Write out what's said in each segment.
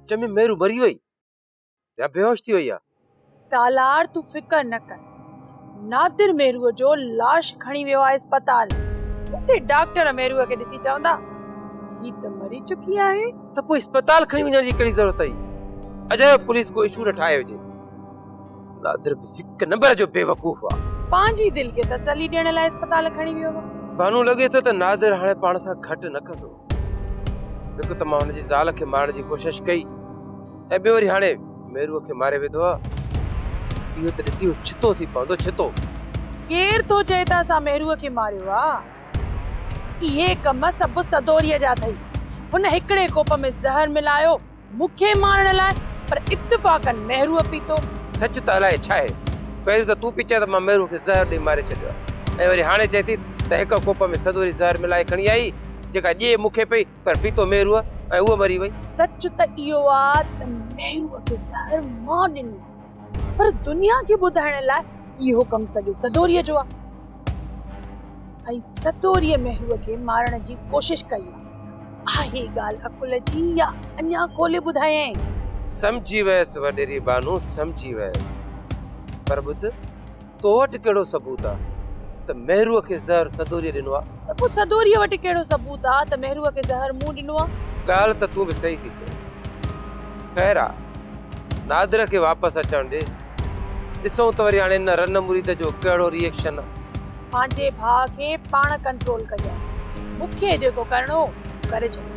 سچ ۾ ميرو مري وئي يا بيهوش ٿي وئي آ. سالار تون فڪر نه ڪر نادر ميرو جو لاش کڻي ويو آ اسپتال اتي ڊاڪٽر ميرو کي ڏسي چوندا هي ته مري چڪي آهي. ته پوء اسپتال کڻي وڃڻ جي ڪهڙي ضرورت هئي اجايو پوليس ڪو اشو نه ٺاهي هجي نادر به هڪ نمبر جو بيوقوف آ. پنهنجي دل کي تسلي ڏيڻ لاء اسپتال کڻي ويو آ. بانو لڳي ٿو ته نادر هاڻي پاڻ سان گهٽ نه ڪندو. هڪ ته مان هن جي زال کي مارڻ جي ڪوشش ڪئي ۽ ٻيو وري هاڻي ميروء کي ماري وڌو آهي اهو ته ڏسي هو ڇتو ٿي پوندو ڇتو ڪير ٿو چئي ته اسان ميروء کي ماريو آهي اهي ڪم سڀ سدوريء جا اٿئي هن هڪڙي ڪوپ ۾ زهر ملايو مون کي مارڻ لاء پر اتفاقاً مهروء پيتو. سچ ته الائي ڇا آهي، پهريون ته تون پئي چئين ته مان مهروء کي زهر ڏئي ماري ڇڏيو آهي ۽ وري هاڻي چئين ٿي ته هڪ ڪوپ ۾ سدوري زهر ملائي کڻي آئي جيڪا ڄي مون کي پئي پر پيتو مهروء ۽ اهو مري وئي. سچ ته اهو آ ته مهروء کي زهر مان ڏنو آهي پر دنيا کي ٻڌائڻ لاء اهو ڪم سڄو سدوريء جو آ. ۽ ستوريء مهروء کي مارڻ جي ڪوشش ڪئي آهي. اهي ڳالهه عقل جي يا اڃا کولي ٻڌايائين. سمجهي ويس وڏيري بانو سمجهي ويس. پر ٻڌ تو وٽ ڪهڙو ثبوت آ ته مهروء کي زهر سدوريء ڏنو آ؟ ته پوء سدوريء وٽ ڪهڙو ثبوت آ ته مهروء کي زهر مون ڏنو آ؟ ڳالهه ته تون به صحيح ٿي ڪرين. خير آ نادر کي واپس اچڻ ڏي. ڏسون ته وري هاڻي ان رن مريد جو ڪهڙو ريئڪشن آهي. پنهنجي ڀاء کي پاڻ ڪنٽرول ڪجانء. مون کي جيڪو ڪرڻو هو ڪري ڇڏيو.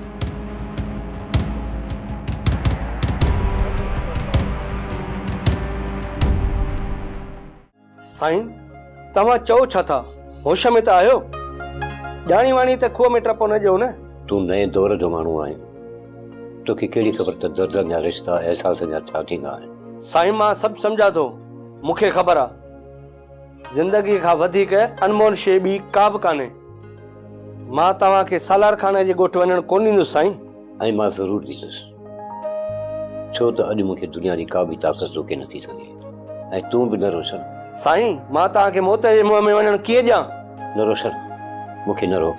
سائين توهان چئو ڇا ٿا؟ هوش ۾ ته آهيو؟ ڄاڻي واڻي ته کوهه ۾ ٽپو نه ڏيو نه. تون نئين دور جو ماڻهو آهين. توکي ڪهڙي خبر ته دردن جا رشتا احساسن جا ڇا ٿيندا آهن. سائين مان سڀ سمجهان ٿو مون کي خبر آ زندگي کان وڌيڪ انمول شي ٻي ڪا به ڪانهي مان توهان کي سالار خان جي ڳوٺ وڃڻ ڪونه ڏيندس سائين. ۽ مان ضرور ڏيندس ڇو ته اڄ مون کي دنيا جي ڪا به طاقت روڪي نٿي سگهي ۽ تون به نه روشن. سائين مان توهان کي موت جي منهن ۾ وڃڻ ڪيئن ڏيان. نه روشن مون کي نه روڪ.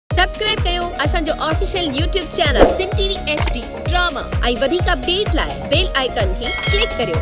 سبسڪرائب ڪيو اسان جو official YouTube channel Sindh T V H D drama ۽ وڌيڪ اپڊيٽ لاء بيل آئيڪان کي ڪلڪ ڪريو.